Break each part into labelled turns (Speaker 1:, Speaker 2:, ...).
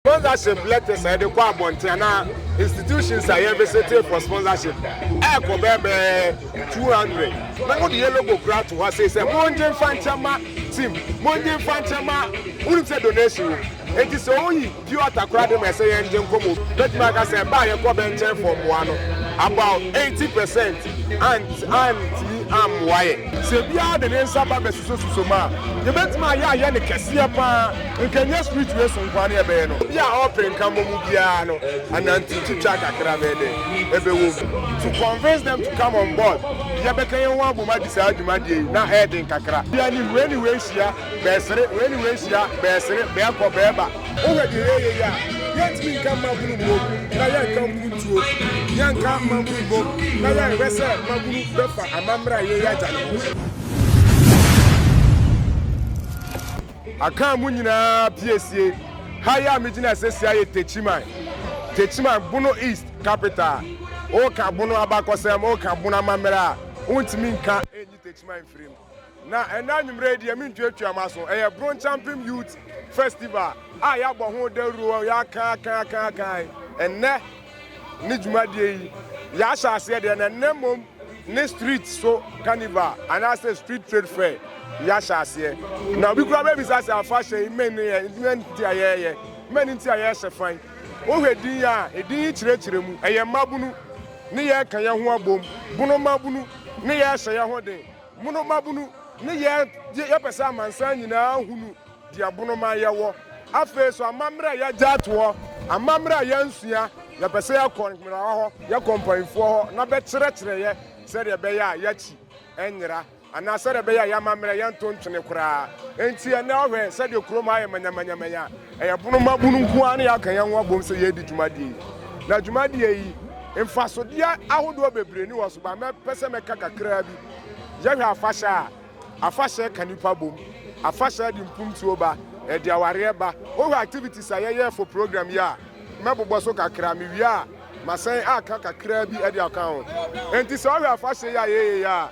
Speaker 1: Sponsorship letters a yɛde kɔ abɔnten anaa institutions a yɛn visitee for sponsorship ɛɛkɔ bɛɛbɛɛ two hundred na mo de yɛ logo kura ato hɔ asei sɛ mongye nfa nkyɛn ma team mongye nfa nkyɛn ma wonim sɛ donation wɔ mu eti sɛ oyi Bio atakora de ma ɛsɛ yɛn gye nkɔmmɔ bi. Bɛtumi aka sɛ ɛbɛ a yɛkɔ bɛ nkyɛn fɔ mmoa no, about eighty percent ant antumi ammoa yɛn. Sɛ obiara de ne nsa ba bɛsosɔsosɔ mu a, yɛbɛtumi ayɛ ayɛ no kɛseɛ pa ara. Nka ɛnyɛ street wei so nko ara ne yɛbɛyɛ no. Obi a ɔpɛ nkammɔ mu biara no, anante twitwa kakra bɛyɛ dɛ? Ɛbɛwɔ mu. To convince them to come on board. Yɛbɛka yɛn ho abom adi saa dwumadie yi, na ɛyɛ den kakra. Bia ne wei ne wei hyia. bɛɛsere, wei ne wei hyia, bɛɛsere, bɛɛkɔ, bɛɛba. Wohwɛ deɛ yɛyɛ yi a, yɛntumi nka mmabunu mmom na yɛnka mpuntuo, yɛnka mmabunu mmom na yɛnhwɛ sɛ mmabunu bɛfa amammerɛ a yɛyɛ agya no ho. Akaa mu nyinaa piesie. Ha yi a megyina sesie ayɛ Techiman, Techiman, Bono East capital. Woka Bono abakɔsɛm, woka Bono amammerɛ a, wontumi nka. Techiman mfiri mu. Na ɛnnɛ anwummerɛ yi deɛ mentuatua mo aso. Ɛyɛ Brongyampem Youth Festival a yɛabɔ ho dawuro, yɛaka aka aka aka. Ɛnnɛ ne dwumadie yi yɛahyɛ aseɛ deɛ na ɛnnɛ mmom ne street so carnival anaasɛ street trade fair yɛahyɛ aseɛ. Na obi koraa bɛbisa sɛ afahyɛ yi mmɛn ne yɛ mmɛn nti a yɛyɛ mmɛn nti a yɛhyɛ fan. Wohwɛ din yi a, edin yi kyerɛkyerɛ mu, ɛyɛ mmabunu ne yɛreka yɛn ho abom, bunu mmabunu ne yɛrehyɛ yɛn ho den, mono mmabunu ne yɛn yɛpɛ sɛ amansan nyinaa hunu deɛ bunu man yɛwɔ. Afei nso amammerɛ a yɛagya ato hɔ, amammerɛ a yɛansua, yɛpɛ sɛ yɛkɔ nhwerawa hɔ, yɛkɔ mpaninfoɔ hɔ na bɛkyerɛkyerɛ yɛ sɛdeɛ ɛbɛyɛ a yɛakyi nyera. anaa sɛdeɛ ɛbɛyɛ a yɛn amammerɛ yɛnto ntwene koraa. Enti ɛnnɛ wohwɛ sɛdeɛ kurom ha ayɛ manyamanyamanya a, ɛyɛ pono mmabunu nko ara na yɛaka yɛn ho abom sɛ yɛredi dwumadie yi. Na dwumadie yi, mfasodeɛ ahodoɔ bebree ni wɔ so, but mɛpɛ sɛ mɛka kakraa bi. Yɛhwɛ afahyɛ a, afahyɛ ka nnipa bom, afahyɛ de mpuntuo ba, ɛde awareɛ ba. Wohwɛ activities a yɛyɛ for program yi a, mɛbobɔ so kakra, mewie a Masan aka kakraa bi de aka ho. Enti sɛ ɔhwɛ afahyɛ yi a yɛyɛeɛ a,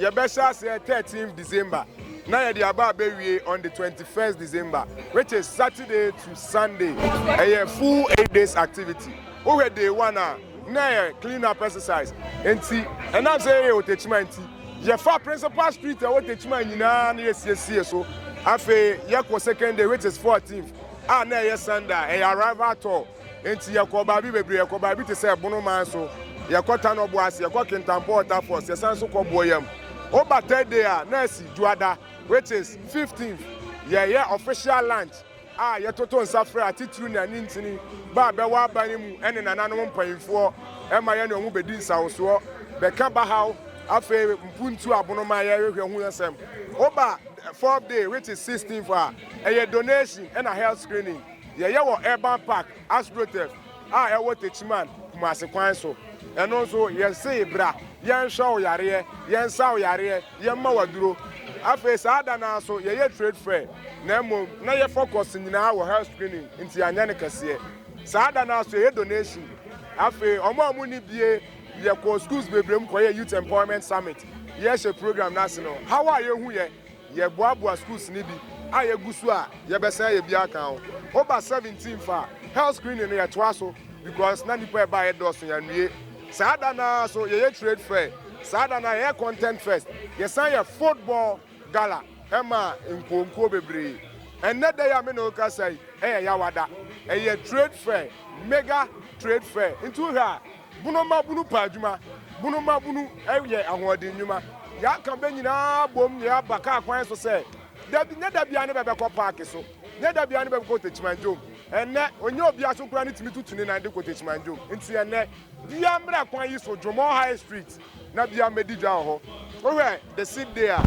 Speaker 1: yɛbɛhyɛ aseɛ thirteenth December na yɛde aba abɛwie on the twenty first December which is Saturday to Sunday. Ɛyɛ full eight days activity. Wohwɛ day one a, na ɛyɛ clean up exercise. Enti ɛnam sɛ yɛyɛ wɔ Techiman nti, yɛfaa principal street a ɛwɔ Techiman nyinaa na yɛsiesiee so. Afei yɛkɔ second day which is fourteenth a na ɛyɛ Sunday a ɛyɛ arrival tour. Enti yɛkɔɔ baabi bebree. Yɛkɔ baabi te sɛ Bono man so, yɛkɔ Tanɔbo ase, yɛkɔ Kintampo Water Falls, yɛsan nso kɔ Boayam. Woba Thursday a, na asi Dwoada, which is fifteenth. Yɛyɛ official lunch a yɛtoto nsa frɛ atitiriw ne anintini ba a bɛwɔ aban no mu ne nananom mpanimfoɔ ma yɛne wɔn bedi nsawosoɔ, bɛka bahaw, afei mpuntuo Abono man yɛrehwehwɛ ho asɛm. Woba fourth day, which is sixteenth a, ɛyɛ donation na health screening. Yɛyɛ wɔ Urban Park, Astroturf, a ɛwɔ Techiman, Kumasi kwan so. Ɛno nso, yɛsee bra, yɛnhwɛ wo yareɛ, yɛnsa wo yareɛ, yɛmma wo aduro. Afei saa da no ara nso, yɛyɛ trade fair, na mmom na yɛ focus nyinaa wɔ health screening, nti yɛanyɛ no kɛseɛ. Saa da no ara nso, yɛyɛ donation. Afei, wɔn a wɔnni bie, yɛkɔɔ schools bebree mu kɔyɛɛ Youth Empowerment Summit. Yɛrehyɛ program no ase no, haw a yɛhuiɛ. Yɛboaboa sukuu sini bi a yɛgu so a yɛbɛsan ayɛ bi aka ho. Woba seventeen fa a, health screening no yɛtoa so because na nnipa a ɛbaeɛ dɔɔso yɛanwie. Saa da no ara nso yɛyɛ trade fair, saa da no ara yɛyɛ content fest, yɛsan yɛ football gala maa nkuo nkuo bebree. Ɛnnɛ da yi a me ne wo rekasa yi yɛ Yawa da. Ɛyɛ trade fair, mega trade fair. Nti wohwɛ a, Bunu ma bunu pɛ adwuma. Bunu ma bunu yɛ ahoɔden nnwuma. Yɛaka bɛ nyinaa abom na yɛaba kaa kwan so sɛ, da bi, nyɛ da biara ne bɛbɛkɔ paake so, nyɛ da biara ne bɛbɛkɔ Techimanjom. Ɛnnɛ, ɔnyɛ obiara so koraa ne tumi tutu ne nan de kɔ Techimanjom. Nti ɛnnɛ, biara mmra kwan yi so, Dromore High Street. na bia mɛdi dwa wɔ hɔ. Wohwɛ the same day a,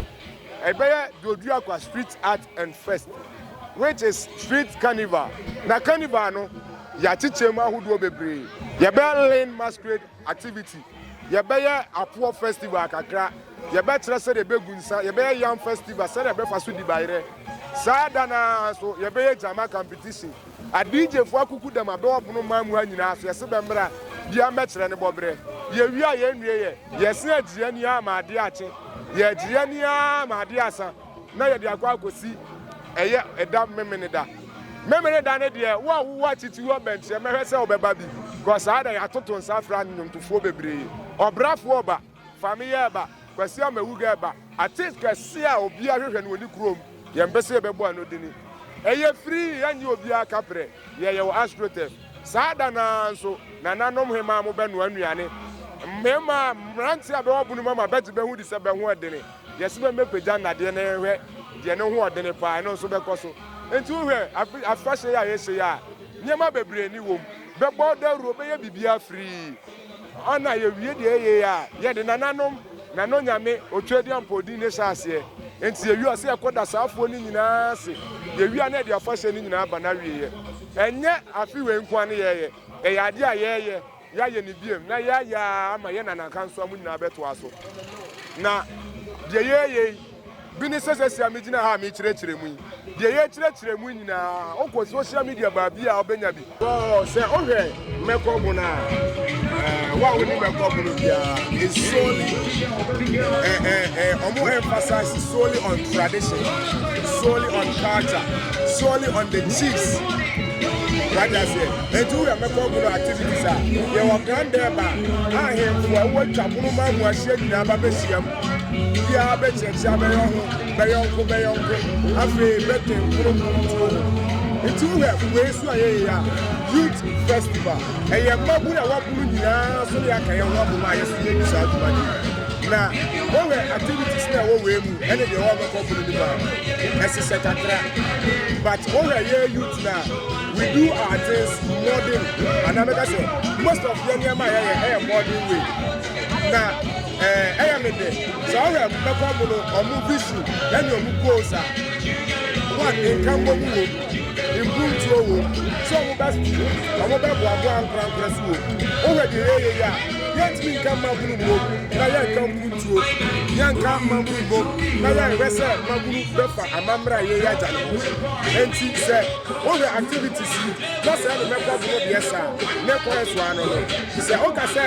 Speaker 1: ɛbɛyɛ Doduakwa Street Art and Fest which is street carnival. Na carnival no, yɛakyekyɛ mu ahodoɔ bebree. Yɛbɛyɛ Lane Masquerade activity, yɛbɛyɛ Apoɔ Festival kakra, yɛbɛkyerɛ sɛdeɛ yɛbɛgu nsa, yɛbɛyɛ Yam Festival, sɛdeɛ yɛbɛfa so di bayerɛ. Saa da no ara nso, yɛbɛyɛ Gyama competition. Adigyefoɔ akukudam abɛ wɔ pono mmaa mu ha nyinaa so yɛse bɛmmra bia mmɛkyerɛ ne bɔberɛ yɛwie a yɛnnueɛ yɛse agyiri ani ara ma adeɛ akye yɛagyiri ani ara ma adeɛ asa na yɛde akɔ akɔsi ɛyɛ ɛda memeneda memeneda no deɛ wo a wowɔ akyiti hɔ bɛnkyerɛ mɛhwɛ sɛ wobɛba bi kɔ saa da yɛatoto nsa afra nnwomtofoɔ bebree ɔbrafoɔ ɔba Fa me yɛ ba, Kwasi Amawugɛ ba. Artist kɛse a obiara hwehwɛ no wɔ ne kurom, yɛn pɛ sɛ yɛbɛbɔ ano de ne Ɛyɛ firi yɛnye obiara ka prɛ, yɛ yɛwɔ Astroturf saa da no ara nso nananom hemaa mo bɛ noa nnuane mmarima a mmeranteɛ a bɛ wɔ bono mu ama bɛgye bɛ ho di sɛ bɛ ho ɛdene yɛ se bɛ mɛpagya nnadeɛ na yɛn hwɛ deɛ ne ho ɔdene paa ɛno nso bɛkɔ so nti wo hwɛ afe afahyɛ yi a yɛhyɛ yi a nneɛma bebree ne wɔ mu bɛbɔ dawuro bɛyɛ biribiara firi Hɔ na yewie deɛ ɛyɛ yi a, yɛde nananom, nanonyame, Otwedeampɔw din no hyɛ aseɛ. Enti yɛwie a, sɛ yɛkɔ da saa afuo no nyinaa ase. Yɛwie a, na yɛde afahyɛ no nyinaa ba n'awieeɛ. Ɛnyɛ afe wei nko ara ne yɛyɛ. Ɛyɛ adeɛ a yɛyɛ, yɛayɛ no bio, na yɛayɛ ara ama yɛn nanankansowa mu nyinaa bɛtoa so. Na deɛ yɛyɛ yi. Bi ne sɛ sesia megyina ha a mekyerɛkyerɛ mu yi, deɛ yɛkyerɛkyerɛ mu nyinaa, wokɔ social media baabi a wobɛnya bi. Wɔɔ sɛ wohwɛ mɛkɔ bo no a, eh, wo a woni mɛkɔ bo no biara, it's solely, eh, eh, eh, ɔmo emphasize solely on tradition, solely on culture, solely on the chiefs. What I say? And you have mɛkɔ bo no activities a, yɛwɔ kan dɛ ba, ahemfo a wɔatwa pono ma mu ahyia nyinaa ba bɛhyiam. Obiara bɛkyerɛkyerɛ abɛyɛ ho bɛyɔnko bɛyɔnko afei bɛtwe nkoronkoro tuo ho. Nti wohwɛ wei so a yɛyɛ a youth festival ɛyɛ mmabunu a wɔabunu nyinaa so ne yɛaka yɛn ho abom a yɛso yɛdi saa adwuma no yi. Na wohwɛ activities no a ɛwɔ wei mu ɛne deɛ wɔbɛkɔ bunu no mu a ɛhyehyɛ kakra but wohwɛ yɛ youth no a we do our things modern anaa mɛka sɛ most of yɛ nneɛma a yɛyɛ ɛyɛ modern way na Ɛɛ, ɛyɛ me dɛ sɛ ɔhwɛ mbɛkɔ mu no ɔmo visu ɛne ɔmo goals a one nkanbɔ mu wom, mpuntuo wom, sɛ ɔmo bɛ ɔmo bɛ boaboa ankorankorɛ so wom. Wohwɛ deɛ yɛyɛ yi a, yɛntumi nka mmabunu mmom na yɛnka mpuntuo, yɛnka mmabunu mmom na yɛnhwɛ sɛ mmabunu bɛfa amammerɛ a yɛyɛ agya no ho. Ɛnti sɛ wohwɛ activities yi na sɛ ɛne mɛkɔ mu no deɛ saa ne kwan so ano no, sɛ woka sɛ.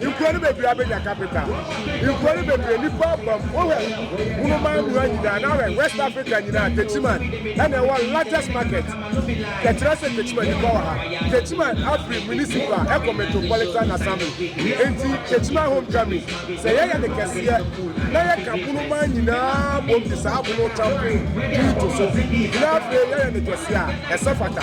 Speaker 1: Nkuro no bebree abɛnya capital. Nkuro no bebree nnipa abam. Wohwɛ Wunoman mmura nyinaa na ahwɛ West Africa nyinaa, Techiman ɛna ɛwɔ largest market. Yɛkyerɛ sɛ Techiman nnipa wɔ ha. Techiman afiri municipal ɛkɔ metropolitan assembly. Enti Techiman homecoming, sɛ yɛyɛ no kɛseɛ na yɛka Wunoman nyinaa bom de saa Wuno Champion din to so na afei yɛyɛ no kɛseɛ a, ɛsɛ fata.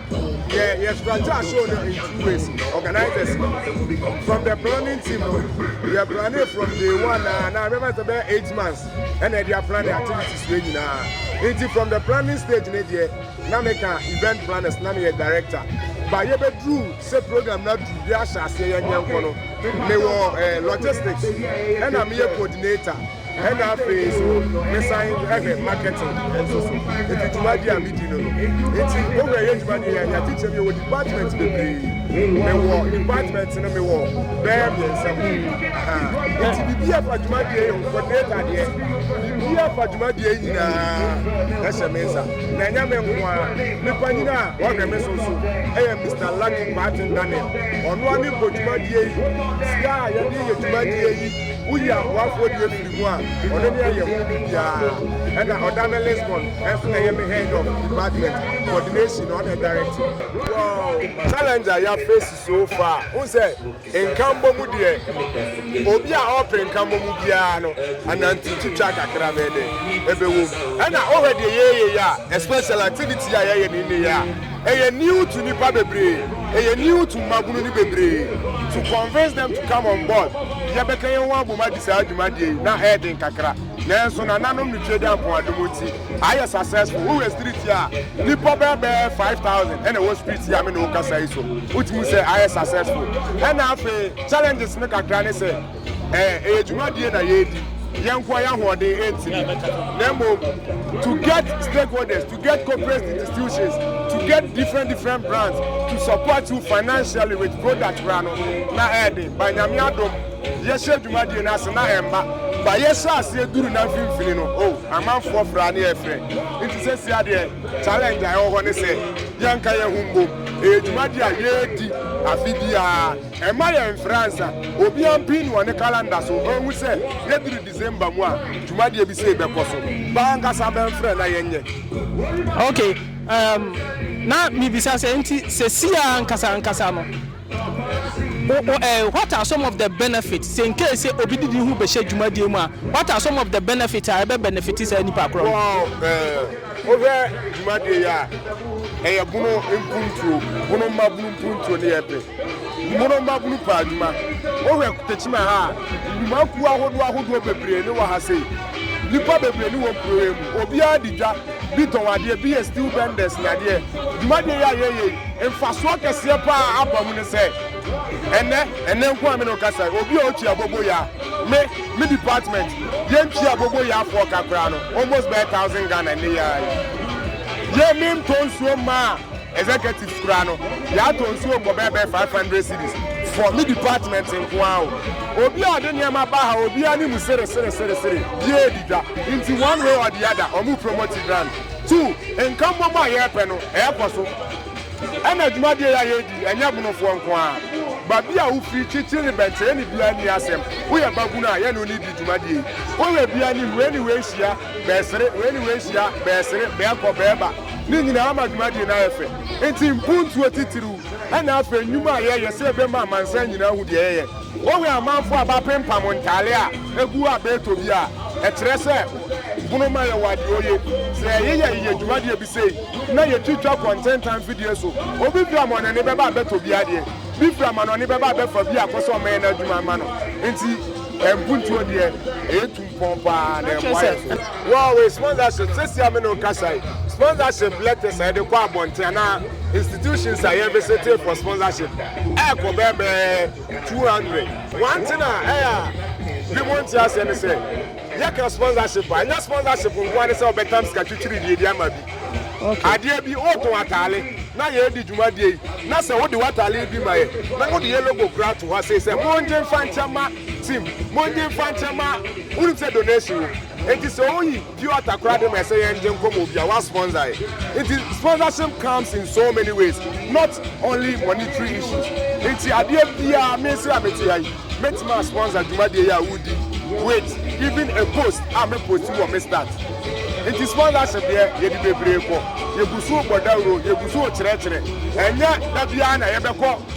Speaker 1: yɛ yɛ strategy aso no in two ways organizers from the planning team no yɛ planning from day one na na remember sɛ bɛyɛ eight months ɛna ɛde aplan ne activities wei nyinaa nti from the planning stage ne deɛ na meka event planners na meyɛ director ba yɛbɛduru sɛ program no aduru yɛ ahyɛ aseɛ yɛnyɛ nkɔ no mewɔ eh, logistics ɛna meyɛ coordinator Ɛna afei nso mesan hwɛ marketing nso so. Eti dwumadi a midi no no nti wowura yɛ dwumadi yɛ anya kyekyɛm yɛ wɔ department bebree. Mewɔ department no mewɔ bɛyɛ mmiɛnsa mu. Eti biribi a ɛfa dwumadi yɛ yɛ coordinator deɛ biribi a ɛfa dwumadi yɛ nyinaa ɛhyɛ me nsa. Na ɛnyɛ me nko ara me panyin a ɔhwɛ me so nso ɛyɛ Mister Lucky Kwarteng Daniel. Ɔno ara ne bɔ dwumadi yɛ yi sika a yɛde yɛ dwumadi yɛ yi. Woyi aboafoɔ deɛ firi mu a, ɔno ne ɛyɛ ho biribiara. Ɛna ɔda me Lisbon nso ɛyɛ me head of department coordination na ɔna ɛdirect. Wow! Challenge a yɛ face so far, wohu sɛ nkanbɔ mu deɛ obi a ɔɔpere nkanbɔ mu biara no anante twitwa kakra bɛyɛ dɛn ɛbɛwɔ mu. Ɛna wohwɛ deɛ yɛɛyɛ yi a especially activity yi a yɛɛyɛ no nnɛ yi a, Ɛyɛ new to nipa bebree, ɛyɛ new to mmabunu no bebree to convince them to come on board. Yɛbɛka yɛn ho abom adi saa dwumadie yi, na ɛyɛ den kakra, nanso nananom no Twede Ampɔn adom nti, ayɛ successful. Wohwɛ street yi a, nnipa bɛyɛ bɛyɛ five thousand na ɛwɔ street yi a me ne wo kasa yi so. Wotumi hu sɛ ayɛ successful. Ɛna afei challenges no kakra ne sɛ, ɛɛ, ɛyɛ dwumadie na yɛredi, yɛn nkoa yɛn ahoɔden ɛntumi, na mmom to get stakeholders, to get corporate institutions, to get different different brands to support you financially with product koraa no, na ɛɛden, ba nyame adom, yɛhyɛ dwumadie no ase na ɛmma, ba yɛhyɛ aseɛ duru na mfimfini no, oh, amanfoɔ fra ne ɛfrɛ, nti sɛsi adeɛ challenge a ɛwɔ hɔ ne sɛ, yɛnka yɛn ho mbom, ɛyɛ dwumadie a yɛredi afe biara. Mma yɛmfra nsa. Obiara mpin no wɔ ne kalanda so nhu sɛ yɛduru December mu a, dwumadie bi sei bɛkɔ so. Bɛ ankasa bɛmfrɛ na yɛnyɛ. Ok, um,
Speaker 2: na mebisa sɛ, nti sesie ara ankasa ankasa no, wo, wo, eh, what are some of the benefits? Sɛ nkei sɛ obi de ne ho bɛhyɛ dwumadie mu a, what are some of the benefits a ɛbɛ benefit saa nipa korɔ no? Wɔɔ, eh,
Speaker 1: wohwɛ dwumadie yi a, ɛyɛ bono mpuntuo, bono mmabunu mpuntuo ne yɛpɛ. Mono mmabunu paa adwuma. Wohwɛ Tekyima ha a, nnwumakuo ahodoɔ ahodoɔ bebree ne wɔ ha sei. Nnipa bebree ne wɔ kuro yi mu. Obiara di dwa, bi tɔn adeɛ, bi yɛ steel benders ne adeɛ. Dwumadie yi a yɛyɛ yi, mfasoɔ kɛseɛ paa aba mu ne sɛ, ɛnnɛ, ɛnnɛ nko a me ne wo kasa yi, obi a ɔtwi abobo ya, me, me department, yɛntwi abobo yafoɔ ka koraa no, almost bɛyɛ thousand Ghana nnɛ yi ara yi. Yɛ, mentɔ nsuo mmaa Executives koraa no yɛatɔ nsuo bɔ bɛɛ bɛɛ five hundred cedis for me department nkoaa o. Obi a ɔde nneɛma ba ha obi ani mu sere sere sere sere biaa di dwa nti one way or the other ɔmo promote grand two nkammom a yɛɛpɛ no ɛɛkɔ so ɛna dwumadie yi a yɛɛdi ɛnyɛ bonofoɔ nkoaa babi a wofiri kyikyiri ne bɛnkyere ne biaa nni asɛm woyɛ babunu a yɛne wo ne di dwumadie yi woyɛ biaa ne hu anyway hyia bɛresere, wei ne wei hyia, bɛresere, bɛrekɔ, bɛreba, ne nyinaa ama dwumadie no ayɛ fɛ. Nti mpuntuo titiriw ɛna afei nnwuma a yɛyɛ sɛ yɛbɛma amansan nyinaa ahu deɛ yɛyɛ. Wowe amanfoɔ a bɛapempam ntaale a ɛgu a bɛretɔ bi a, ɛkyerɛ sɛ bono ma yɛwɔ adeɛoye. Sɛ yɛyeyɛ yɛ dwumadie bi sei na yɛtwitwa kɔ ntentan mfidie so, obi firi amanɔne bɛba a bɛtɔ bi adeɛ, bi firi amanɔne bɛba a bɛfa bi akɔ sɛ wɔmmɛyɛ no adwuma mma no. Nti mpuntuo deɛ ɛyɛ tum. Pɔn paa na ɛboa yɛn so. Wow wei sponsorship sɛsi a me ne wo kasa yi sponsorship letters a yɛde kɔ abɔnten anaa institutions a yɛn visitee for sponsorship ɛɛkɔ bɛɛbɛɛ 200 one thing a ɛyɛ a bi mo nte aseɛ ne sɛ yɛka sponsorship a ɛnyɛ sponsorship nkoa ne sɛ wɔbɛtam sika twitwiri deɛ di ama bi adeɛ bi wotɔn ataale na yɛredi dwumadie yi na sɛ wode w'ataale bi ma yɛ na wode yɛ logo kura to hɔ sei sɛ mongye mfa nkyɛ ma Tim, mongye mfa nkyɛ ma wonim sɛ donation wom. Enti sɛ woyi pure water koraa de ma ɛsɛ yɛn gye nkɔmmɔ obi a wa sponsor yɛ. Enti sponsorship comes in so many ways not only monetary issues. Enti adeɛ biara me nso a mete ha yi mɛtumi a sponsor dwumadie yi a woredi yi with even a post a me post wɔ me stats. Enti sponsorship deɛ yɛde bebree kɔ. Yɛgu so bɔ dawuro, yɛgu so kyerɛkyerɛ. Ɛnyɛ da biara na yɛbɛkɔ.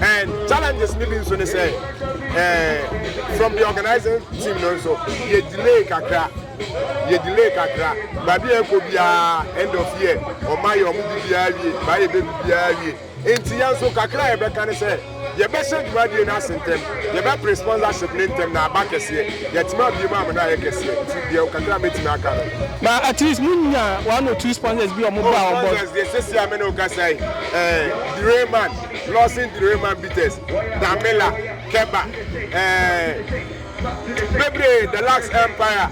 Speaker 1: And challenges ni bi nso ne sɛ eh, from the organizing team no nso yɛ delay kakra yɛ delay kakra baabi a ɛkɔ biara end of year ɔma yɛ ɔmo de biara wie baa yɛ bɛ bi biara wie nti yɛn nso kakra a yɛbɛka ne sɛ yɛbɛhyɛ dwumadie no ase ntɛm yɛbɛpere sponsorship ne ntɛm na aba kɛseɛ yɛtumi abie mu amena ayɛ kɛseɛ nti deɛ kakra a mɛtumi aka no na at least mo
Speaker 2: nya one or two sponsors bi ɔmo ba ɔmo bɔ. sponsors deɛ sisi a mene
Speaker 1: okasa yi ɛɛ eh, Direman Lawson Therema Bitters, Damela, Keba, eh, bebree, The Lux Empire.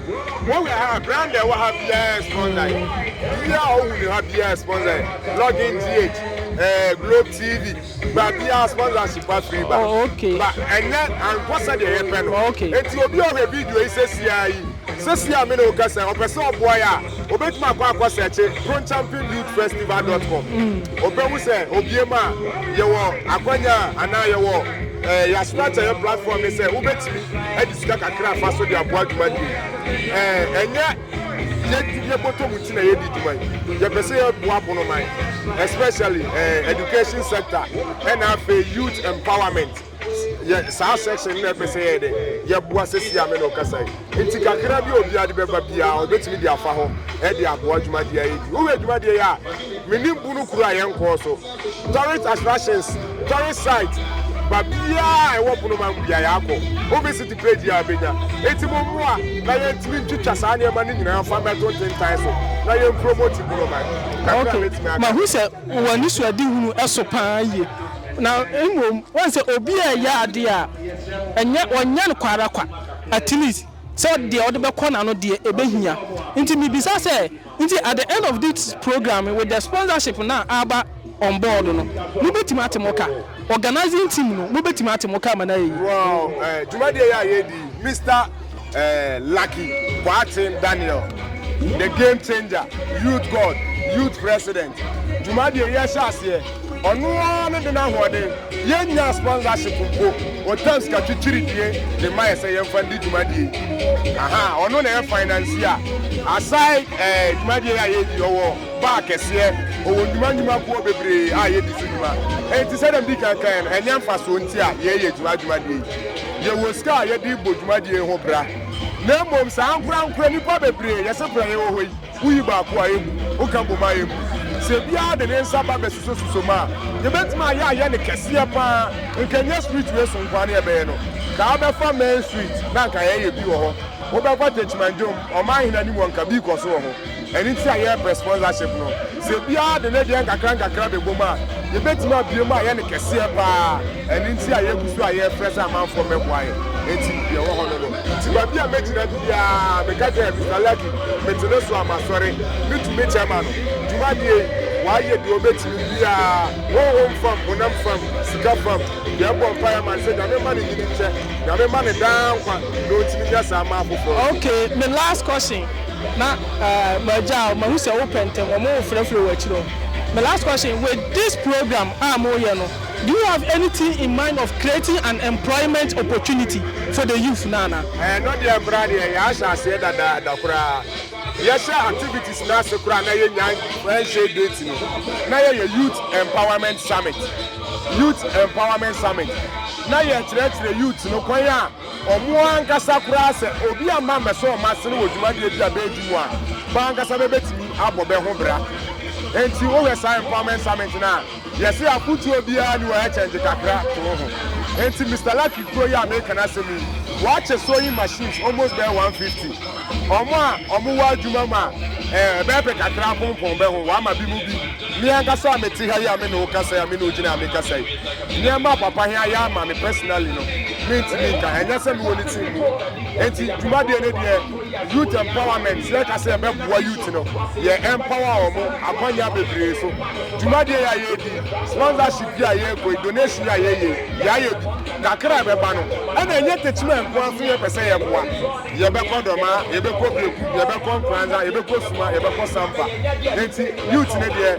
Speaker 1: Wohwɛ ha, brand ɛwɔ ha biara sponsor yi. Biribi a wohu ne ha biara sponsor yi. Login GH, eh, Globe TV, ba biara sponsorship afiri ba. Oh, okay. Ba
Speaker 2: ɛnyɛ
Speaker 1: ankɔ sɛdeɛ yɛpɛ no. Okay. Enti obi a ɔhwɛ
Speaker 2: video
Speaker 1: yi sɛsia yi, sɛsia me na wokasa, ɔpɛ sɛ ɔboa yɛ a, Obetumi akɔ akɔsɛɛkye kronchampingdudefestival dot com. Obehu sɛ obiem a, yɛwɔ akwanya a anaa yɛwɔ ɛɛ yɛasoma akyɛ yɛn platform no sɛ wobetumi de sika kakra afa so de aboa dwuma no yi. Ɛɛ ɛnyɛ yɛdi yɛbɔtɔ mu nti na yɛdi dwuma yi. Yɛpɛ sɛ yɛboa bonoman especially ɛɛ education sector ɛna afei youth empowerment. yɛ saa section no na ɛpɛ sɛ yɛyɛ dɛ yɛboa sɛsi a me na ɔkasa yi nti kakra bi a obiara de bɛba biara ɔbɛtumi de afa hɔ ɛde aboa dwumadeɛ a yɛdi wohwɛ dwumadeɛ yi a menim bu no kuro a yɛnkɔɔ so tourist attractions tourist site ba biara a ɛwɔ ponoma mu biara yɛakɔ wobɛsiti page yi a bɛnya ɛti mo mmoa na yɛntumi ntwitwa saa nneɛma no nyinaa fa mmɛto ntentan so na yɛmpromoti ponoma kakra bɛtumi aka
Speaker 2: mahu sɛ wɔ anisoadehunu so paa yie, na mmom woahu sɛ obi a ɛyɛ adeɛ a ɛnyɛ ɔnyɛ no kwa ara kwa, at least sɛ deɛ ɔde bɛkɔ n'ano deɛ ɛbɛhia. Nti mebisa sɛ, nti at the end of this programme with the sponsorship no a aba on board no, mobɛtumi ate mo ka? Organising team no mobɛtumi ate mo ka ma no ayɛ yie? Wɔ
Speaker 1: dwumadie yi a yɛredi yi, Mister. eh, Lucky Boateng Daniel, the game changer, youth god, youth president. Dwumadie yɛ hyɛ aseɛ, ɔno ara ne de n'ahoɔden, yɛn nya sponsorship mpo, ɔtam sika kyikyiri die de ma yɛ sɛ yɛn fa ndi dwumadie. Aha, ɔno na yɛ finance a, aside eh, dwumadie a yɛ di, ɔwɔ baa kɛseɛ, ɔwɔ nnwuma nnwuma kuo bebree a yɛ di so dwuma. Enti sɛdeɛ mdi kan kan no, ɛnyɛ mfasoɔ nti a yɛ yɛ dwuma dwumadie yi. yɛwɔ sika a yɛde rebɔ dwumadie yi ho bra na mmom saa ankorankorɛ nnipa bebree yɛse bra yɛwɔ hɔ yi woyi baako a ɛmmu woka bom a ɛmmu sɛ biara de ne nsa ba bɛsusosuso mu a yɛbɛtumi ayɛ ayɛ ne kɛseɛ paa nka nyɛ street wei so nkoa ne ɛbɛyɛ no kaa bɛfa main street na nka yɛyɛ bi wɔ hɔ wobɛkɔ techimanjom ɔman hene anim wɔ nka bi kɔ so wɔ ho Ɛno nti na yɛrebrɛ sponsorship no. Sɛ obiara de ne deɛ nkakrankakra bɛbom a, yɛbɛtumi abue mu ayɛ no kɛseɛ pa ara. Ɛno nti a yɛgu so a yɛrefrɛ sɛ amanfoɔ mmɛboa yɛn. Enti deɛ ɛwɔ hɔ no no. Nti baabi a mɛgyina biara, meka sɛ, Mister Larkin, mete ne so a, masɔre. Me tumi kyɛ ma no. Dwumadie yi, wayɛ deɛ ɔbɛtumi biara, honhom fam, honam fam, sika fam. Yɛn bɔ mpaeɛ ma no sɛ Nyame mma no nyini nkyɛ. Nyame mma no daa nkwa na ɔntumi nyɛ saa mma afoforɔ nso. Okay, me last
Speaker 2: question. Na magyaa wo, mahu sɛ wopɛ ntɛm, wɔn wo frɛfrɛ wɔ akyire hɔ. My last question, with this program a moreyɛ no, do you have anything in mind of creating an employment opportunity for the youth no anaa? Ɛno deɛ mmra
Speaker 1: deɛ yɛahyɛ aseɛ dadaada koraa. Yɛhyɛ activities no ase koraa na yɛnnya ɛnhyɛɛ date no, na yɛyɛ youth empowerment summit, youth empowerment summit, na yɛkyerɛkyerɛ youth no kwan a Wɔn ankasa koraa, sɛ obi amma ammɛsɔ wɔn asene wɔ dwumadi a ebia bɛredi mu a, wɔn ankasa bɛbɛtumi abɔ bɛ ho bra. Enti wohwɛ saa empowerment summit no a, yɛse afotuo biara nni hɔ, ɛkyɛngye kakra to wo ho. Enti Mister Lucky kuro yi a mereka n'asɛm yi, wɔakyɛ sewing machines almost bɛyɛ 150. Wɔn a wɔwɔ adwuma mu a ɛbɛyɛ pɛ kakra apompɔn bɛ ho, wɔama binom bi. Me ankasa a mete ha yi a me ne wo kasa yi a me ne wo gyina ha me kasa yi, nneɛma a papa he ayɛ ama me personally no, me ntumi nka he, nyɛ sɛ me wɔ ne team mu. Nti dwumadie no deɛ youth empowerment, yɛ ka sɛ yɛ bɛ boa youth no, yɛ empower ɔmo akwanya bebree so. Dwumadie yi a yɛ di, sponsorship yi a yɛ kɔ yi, donation yi a yɛ yɛ yi, yɛ ayɛ bi, kakra a ɛbɛ ba no, ɛna ɛnyɛ Techiman nko ara so yɛ pɛ sɛ yɛ boa. Yɛbɛkɔ Dɔmaa, yɛbɛkɔ Beku, yɛbɛkɔ Nkoranza, yɛbɛkɔ Suma, yɛbɛkɔ Sampa. Enti youth no deɛ,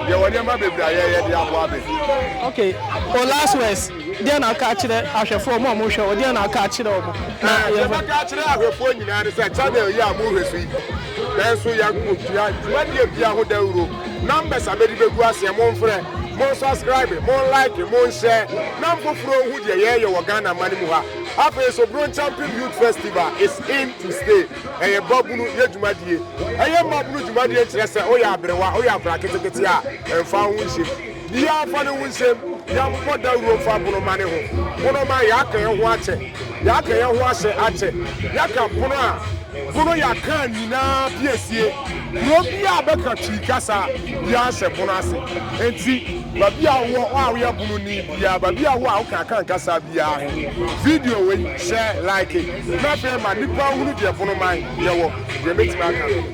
Speaker 1: yɛwɔ nneɛma bebree a yɛyɛ de aboa bɛ. Ok,
Speaker 2: wo last words, deɛn na woka akyerɛ ahwɛfoɔ, wɔn a wɔhwɛ wo, deɛn na woka akyerɛ wɔn? Na Ɛɛ, deɛ yɛmfa mɛka
Speaker 1: akyerɛ ahwɛfoɔ nyinaa ne sɛ, channel yi a mohwɛ so yi, nanso yɛatua dwumadie biara ho dawuro. Numbers a mɛde bɛgu aseɛ, momfrɛ, monsubscribe, monlike, monhyɛ, na mfoforɔ nhu deɛ yɛreyɛ wɔ Ghana mma no mu ha. Afei nso Bronschampin Youth Festival is in to stay, ɛyɛ babunu yɛ dwumadie. Ɛyɛ mmabunu dwumadie nkyerɛ sɛ woyɛ aberewa, woyɛ akwadaa ketekete a, mfa wo ho nhyem. Biaa mfa ne ho nhyem, yɛmmɔ dawuro mfa bonoma ne ho. Bonoma, yɛaka yɛn ho akyɛ, yɛaka yɛn ho ahyɛ akyɛ, yɛaka pono a. Bono ya kan nyinaa piesie kuro bi a bɛka Twi kasa bia hyɛ Bono ase. Enti babi a wowɔ hɔ a woyɛ Bono ni bia, babi a wowɔ a woka Akan kasa biaa he, video wei hyɛ like na afei ma nnipa nhunu deɛ Bono man yɛwɔ, deɛ mɛtumi aka.